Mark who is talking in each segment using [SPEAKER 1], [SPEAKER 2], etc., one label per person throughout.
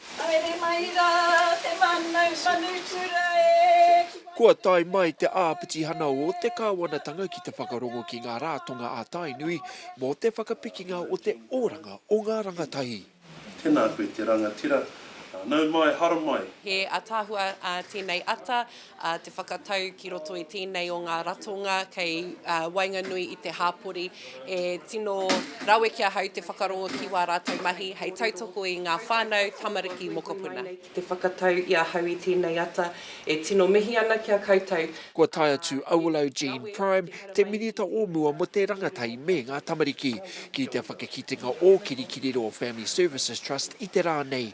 [SPEAKER 1] Haere mai rā te mānau manutura e. Kua tae mai te āpitihana o te kāwanatanga ki te whakarongo ki ngā rātonga a Tainui mō te whakapikinga o te oranga o ngā rangatahi. Tēnā koe te rangatira, nau mai, haramai. He ataahua tēnei ata. te whakatau ki roto i tēnei o ngā ratonga kei waenganui i te hāpori e tino rawe ki ahau te whakarongo ki wā rātou mahi hei tautoko i ngā whānau, tamariki, mokopuna. Te whakatau i ahau i tēnei ata, e tino mihi ana ki a koutou. Kua tae atu Awilo Jean Prime, te Minita o mua mo te Rangatahi me nga Tamariki, ki te whakakitenga o Kirikiriroa Family Services Trust i te ra nei,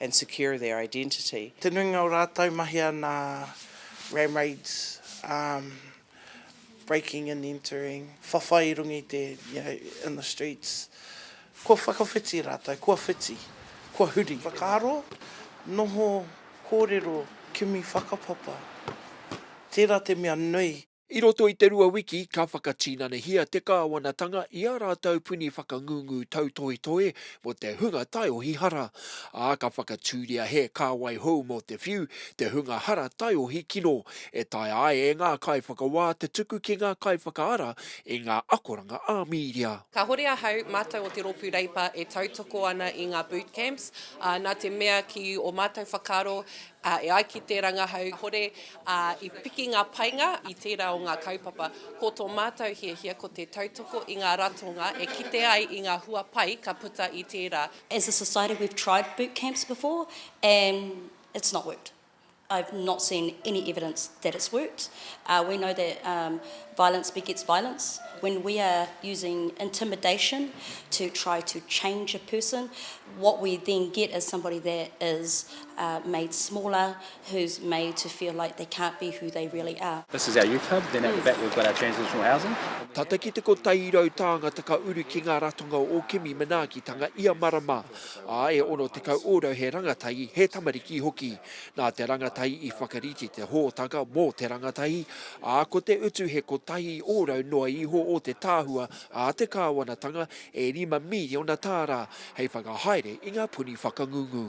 [SPEAKER 1] and secure their identity. Te nuinga o rātou mahea nā ram raids, armed breaking and entering, whawhai i runga i te, you know, in the streets. Kua whakawhiti rātou, kua whiti, kua huri. Whakaaro, noho, kōrero, kimi whakapapa, tērā te mea nui. I roto i te rua wiki ka whakatinanahia te Kāwanatanga i ā rātou puni whakangungu tautohetohe mō te hunga taiohi hara, ā, ka whakatūria he kāwai hou mō te whiu, te hunga hara taiohi kino, e taea ai e ngā kaiwhakawā te tuku ki ngā kaiwhakaara i ngā akoranga ā-mīria. Kāhore ahau, mātou o te Rōpū Reipa e tautoko ana i ngā boot camps, ā, nā te mea ki ō mātou whakaaro, ā, e ai ki te rangahau kāhore ā, i piki ngā painga i tērā o ngā kaupapa. Ko tō mātou hiahia ko te tautoko i ngā ratonga e kite ai i ngā hua pai ka puta i tērā. As a society we've tried boot camps before and it's not worked. I've not seen any evidence that it's worked. We know that violence begets violence. When we are using intimidation to try to change a person, what we then get is somebody that is made smaller, who's made to feel like they can't be who they really are. This is our youth hub, then at the back we've got our transitional housing. Tata ki te kotairau tāngata ka uru ki ngā ratonga o kimi manaakitanga ia marama, ā, e 60 ōrau he rangatahi, he tamariki hoki. Nā te rangatahi i whakarite te hōtaka mō te rangatahi, ā, ko te utu he kotahi ōrau noa iho o te tāhua a te kāwanatanga e rima mīriona tāra hei whakahaere i ngā puni whakangungu.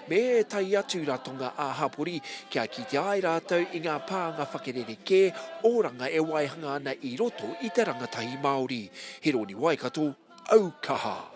[SPEAKER 1] me ētahi atu ratonga ā-hapori kia kitea ai rātou i ngā pānga whakererekē, oranga e waihanga ana i roto i te rangatahi Māori. Hironi Waikato, aukaha!